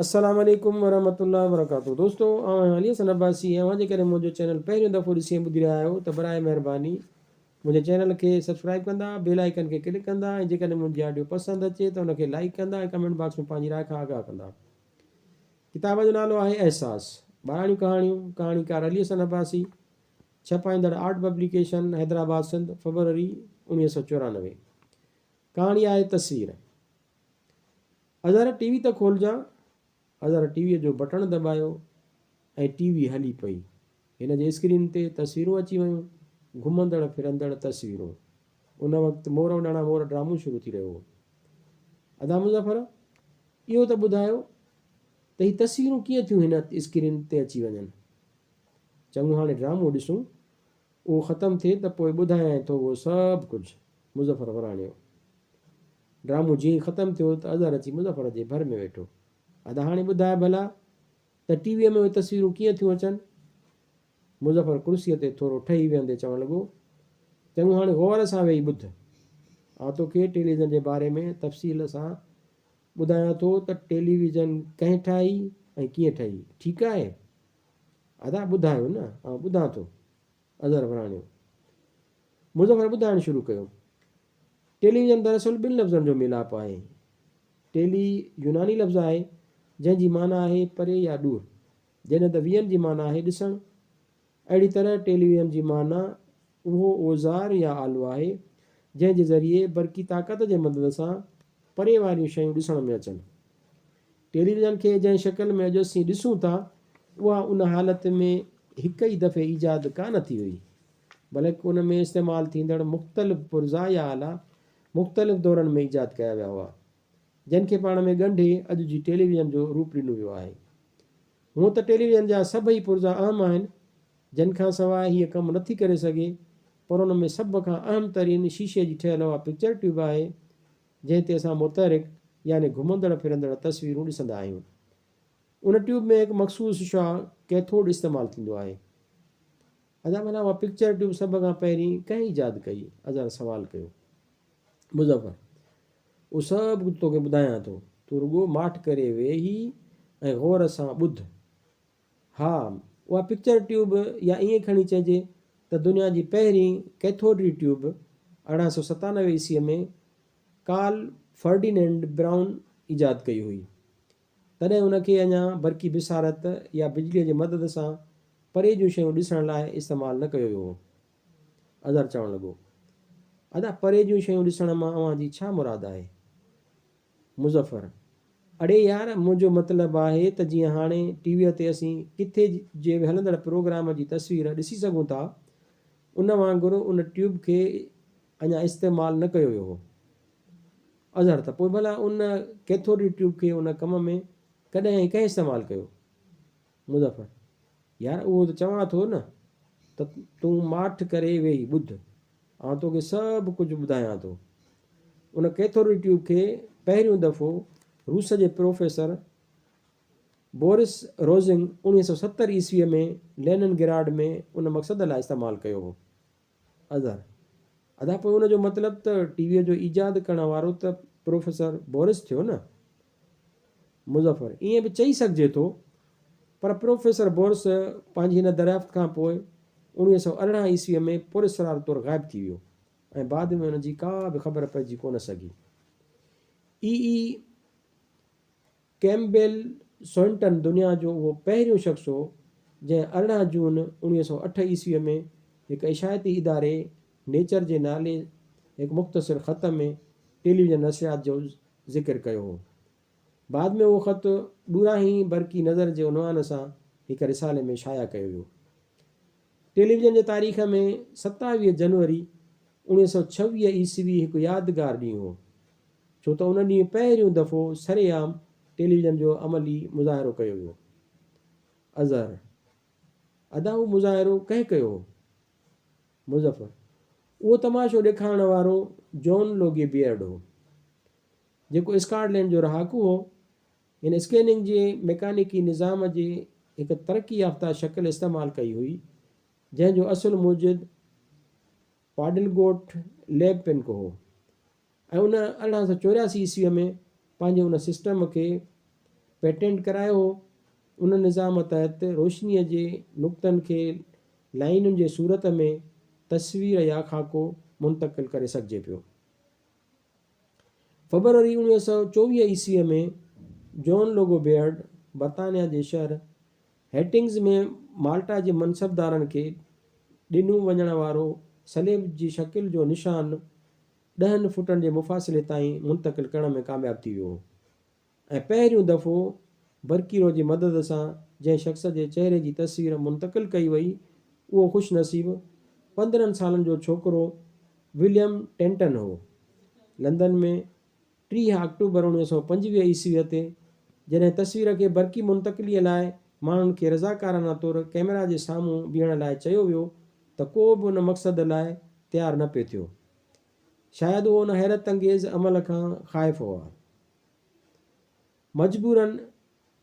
السلام عليڪم ورحمة الله وبرڪاته دوستو آئون آهيان علي حسن عباسي ۽ اوهان جيڪڏهن منهنجو چينل پهريون دفعو ڏسي ۽ ٻڌي رهيا آهيو ته براهه مهرباني منهنجي چينل کي سبسڪرائب ڪندا بيل آئيڪن کي ڪلڪ ڪندا ۽ جيڪڏهن منهنجي آڊيو پسند اچي ته ان کي لائيڪ ڪندا ۽ ڪمينٽ باڪس ۾ پنهنجي راء کان آگاهه ڪندا ڪتاب جو نالو آهي احساس ٻاراڻيون ڪهاڻيون ڪهاڻيڪار علي حسن عباسي ڇپائيندڙ آرٽ پبليڪيشن حيدرآباد سنڌ فبروري اوڻيهه سؤ چورانوي ڪهاڻي آهي تصوير اظهر ٽي وي ته کولجان. اظهر ٽي ويء جو بٽڻ دٻايو ۽ ٽي وي هلي پئي. هن جي اسڪرين تي تصويرون اچي ويون، گهمندڙ ڦرندڙ تصويرون. ان وقت مور اڏاڻا مور ڊرامو شروع ٿي رهيو هو. ادا مظفر، اهو ته ٻڌايو ته هي تصويرون ڪيئن ٿيون هن اسڪرين تي اچي وڃن. چڱو هاڻي ڊرامو ڏسون. اهو ختم ٿئي ته پوء ٻڌايانء ٿو اهو سڀ ڪجهه. مظفر وراڻيو. ڊرامو جيئن ئي ختم ٿيو ته اظهر اچي مظفر جي ڀر ۾ ويٺو. ادا هاڻي ٻڌاء ڀلا ته ٽي ويء ۾ اهي تصويرون ڪيئن ٿيون اچن؟ مظفر ڪرسيء تي ٿورو ٺهي ويهندي چوڻ لڳو. چڱو هاڻي غور سان ويهي ٻڌ. آء توکي ٽيليويزن جي باري ۾ تفصيل سان ٻڌايان ٿو ته ٽيليويزن ڪنهن ٺاهي ۽ ڪيئن ٺهي. ٺيڪ آهي؟ ادا ٻڌايو نه آئون ٻڌان ٿو. اظهر وراڻيو. مظفر ٻڌائڻ شروع ڪيو. ٽيلي ويزن دراصل ٻن لفظن جو ميلاپ آهي. ٽيلي يوناني لفظ آهي جنهن جي معنيٰ آهي پري يا ڏور جڏهن ته ويئن جي معنيٰ آهي ڏسڻ. اهڙي طرح ٽيلي ويئن جي معنيٰ اهو اوزار يا آلو آهي جنهن جي ذريعي برقي طاقت جي مدد سان پري واريون شيون ڏسڻ ۾ اچن. ٽيليويزن کي جنهن شڪل ۾ اڄ اسين ڏسون ٿا، اها ان حالت ۾ هڪ ئي دفعي ايجاد ڪا نه ٿي هئي، بلڪ ان ۾ استعمال ٿيندڙ مختلف پرزا يا آلا مختلف دورن ۾ ايجاد ڪيا ويا هئا، جن کي پاڻ ۾ ڳنڍي اڄ جي ٽيليويزن جو روپ ڏنو ويو آهي. هونء ته ٽيليويزن جا سڀئي پرزا اهم آهن، جن کان سواء هيء ڪم نه ٿي ڪري سگهي، پر ان ۾ سڀ کان اهم ترين شيشي جي ٺهيل اها پڪچر ٽيوب آهي، جنهن تي اسان متحرڪ يعني گهمندڙ ڦرندڙ تصويرون ڏسندا آهيون. ان ٽيوب ۾ هڪ مخصوص شعاع ڪيٿوڊ استعمال ٿيندو آهي. ادا ڀلا اها پڪچر ٽيوب سڀ کان پهرين ڪنهن ايجاد ڪئي؟ اظهر سوال ڪيو. مظفر، اهو سڀ ڪجهه توکي ٻڌايان ٿو، تون رڳو ماٺ ڪري ويهي ۽ غور سان ٻڌ. ها، اها پڪچر ٽيوب يا ائين کڻي چئجي ته دنيا جي پهرين ڪيٿوڊري ٽيوب ارڙهن سؤ ستانوي عيسويء ۾ ڪارل فرڊيننڊ برائون ايجاد ڪئي هئي. تڏهن ان کي اڃا برقي بصارت يا بجليء جي مدد سان پري جون شيون ڏسڻ لاء استعمال نه ڪيو ويو هو. اظهر چوڻ لڳو، ادا پري جون شيون ڏسڻ مان اوهان جي ڇا مراد آهي؟ مظفر، اڙي يار منهنجو مطلب آهي ته جيئن هاڻي ٽي ويء تي اسين ڪٿي جي به هلندڙ پروگرام جي تصوير ڏسي سگهون ٿا، ان وانگر ان ٽيوب کي اڃا استعمال نه ڪيو ويو هو. اظهر، ته پوء ڀلا ان ڪيٿوڊ جي ٽيوب کي ان ڪم ۾ ڪڏهن ۽ ڪنهن استعمال ڪيو؟ مظفر، يار اهو ته چوان ٿو نه ته تون ماٺ ڪري ويهي ٻڌ، آئون توکي سڀ ڪجهه ٻڌايان ٿو. ان ڪيٿوڊ ٽيوب کي پهريون دفعو روس جي پروفيسر بورس روزنگ اوڻيهه سؤ ستر عيسويء ۾ لينن گراڊ ۾ ان مقصد لاء استعمال ڪيو هو. اظهر، ادا پوء ان جو مطلب ته ٽي ويء جو ايجاد ڪرڻ وارو ته پروفيسر بورس ٿيو نه؟ مظفر، ائين به چئي سگهجي ٿو، پر پروفيسر بورس پنهنجي هن دريافت کان پوء اوڻيهه سؤ ارڙهن عيسويء ۾ پراسرار طور غائب ٿي ويو ۽ بعد ۾ ان جي ڪا به خبر پئجي ڪونه سگهي. اي. اي. ڪيمبيل سوئنٽن دنيا جو اهو پهريون شخص هو، جنهن ارڙهن جون اوڻيهه سؤ اٺ عيسويء ۾ هڪ اشاعتي اداري نيچر جي نالي هڪ مختصر خط ۾ ٽيليويزن نشريات جو ذڪر ڪيو هو. بعد ۾ اهو خط ڏورانهين برقي نظر جي عنوان سان هڪ رسالي ۾ شايع ڪيو ويو. ٽيليويزن جي تاريخ ۾ ستاويهه جنوري اوڻيهه سؤ ڇويهه عيسوي هڪ يادگار ڏينهن هو، ڇو ته ان ڏينهن پهريون دفعو سرعام ٽيليويزن جو عملي مظاهرو ڪيو ويو. اظهر، ادا اهو مظاهرو ڪنهن ڪيو هو؟ مظفر، اهو تماشو ڏيکارڻ وارو جون لوگي بيئرڊ هو، جيڪو اسڪاٽ لينڊ جو رهاڪو هو. هن اسڪيننگ جي ميڪانيڪي نظام جي هڪ ترقي يافته شڪل استعمال ڪئي هئي، جنهن جو اصل موجد پاڊلگوٽ ليب پنڪ هو، ۽ ان ارڙهن سؤ چورياسي عيسويء ۾ پنهنجي ان سسٽم کي پيٽنٽ ڪرايو هو. ان نظام تحت روشنيء جي نقطن کي لائينن جي صورت ۾ تصوير يا خاڪو منتقل ڪري سگهجي پيو. فبروري اوڻيهه سؤ چوويهه عيسويء ۾ جون لوگو بيئرڊ برطانيا جي شهر هيٽنگز ۾ مالٽا جي منصبدارن کي ڏنو وڃڻ وارو صليب جي شڪل جو نشان ڏهن فوٽن جي مفاصلي تائين منتقل ڪرڻ ۾ ڪامياب ٿي ويو هو ۽ پهريون دفعو برڪيرو جي مدد سان جنهن شخص جي چهري جي تصوير منتقل ڪئي وئي اهو خوش نصيب پندرهن سالن جو ڇوڪرو وليم ٽينٽن هو لندن ۾ ٽيهه آڪٽوبر اڻويهه سؤ پنجويهه عيسويء تي جڏهن تصوير کي برقي منتقليء لاء ماڻهن کي رضاڪارانه طور ڪئميرا جي سامهون بيهڻ لاء چيو ويو ته ڪو به ان مقصد لاء تيار نه پئي ٿيو. شايد هو ان حيرت انگيز عمل کان خائف هئا. مجبوراً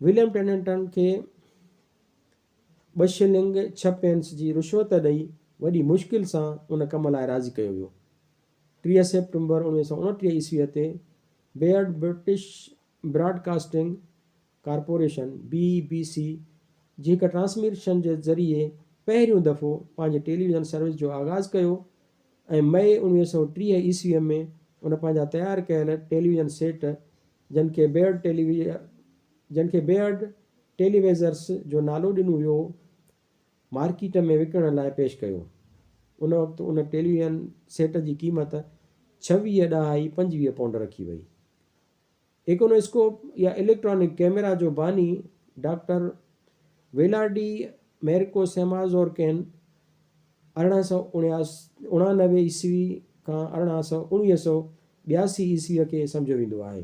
وليم ٽيننٽن کي ٻه شلنگ ڇهه پينس جي رشوت ڏئي وڏي مشڪل سان ان ڪم لاء راضي ڪيو ويو. ٽيهه سيپٽمبر اڻويهه سؤ اڻٽيهه عيسويء تي Baird British broadcasting corporation, B B C, جي هڪ ٽرانسميشن جي ذريعي پهريون دفعو پنهنجي ٽيليويزن سروس جو آغاز ڪيو ۽ مئي اڻويهه سؤ ٽيهه عيسويء ۾ ان پنهنجا تيار ڪيل ٽيليويزن سيٽ جن کي بيئرڊ جن کي بيئرڊ ٽيليويزرس جو نالو ڏنو ويو، مارڪيٽ ۾ وڪڻڻ لاء پيش ڪيو. ان وقت ان ٽيليويزن سيٽ جي قيمت ڇويهه ڏهائي پنجويهه پونڊ رکي وئي. ايڪونوسڪوپ يا اليڪٽرانڪ ڪئميرا جو باني ڊاڪٽر ويلارڊي ميرڪو سيمازورڪين ارڙهن سؤ اڻانوي عيسوي کان ارڙهن سؤ اڻويهه سؤ ٻياسي عيسوي کي سمجهيو ويندو آهي.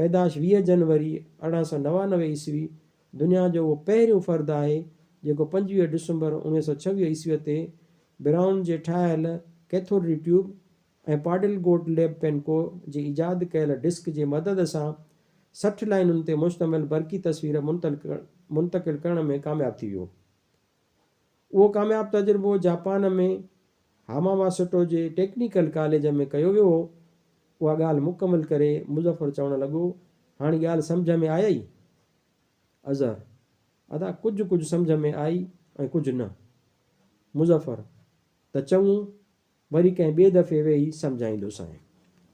پيدائش ويهه جنوري ارڙهن سؤ نوانوي عيسوي دنيا جو اهو پهريون فرد آهي جيڪو پنجويهه ڊسمبر اوڻيهه سؤ ڇويهه عيسوي تي برائون جي ٺاهيل cathode ray tube ۽ Paul Gottlieb پينڪو جي ايجاد ڪيل ڊسڪ جي مدد سان سٺ لائينن تي مشتمل برقي تصوير منتقل ڪرڻ ۾ ڪامياب ٿي ويو. اهو ڪامياب تجربو جاپان ۾ هاماماسٽو جي ٽيڪنيڪل ڪاليج ۾ ڪيو ويو هو. اها ڳالهه مڪمل ڪري مظفر چوڻ لڳو، هاڻي ڳالهه سمجهه ۾ آيئي؟ اظهر، ادا ڪجهه ڪجهه سمجهه ۾ آئي ۽ ڪجهه نه. مظفر، ته چڱو، وري ڪنهن ٻئي دفعي ويهي سمجهائيندوسانء.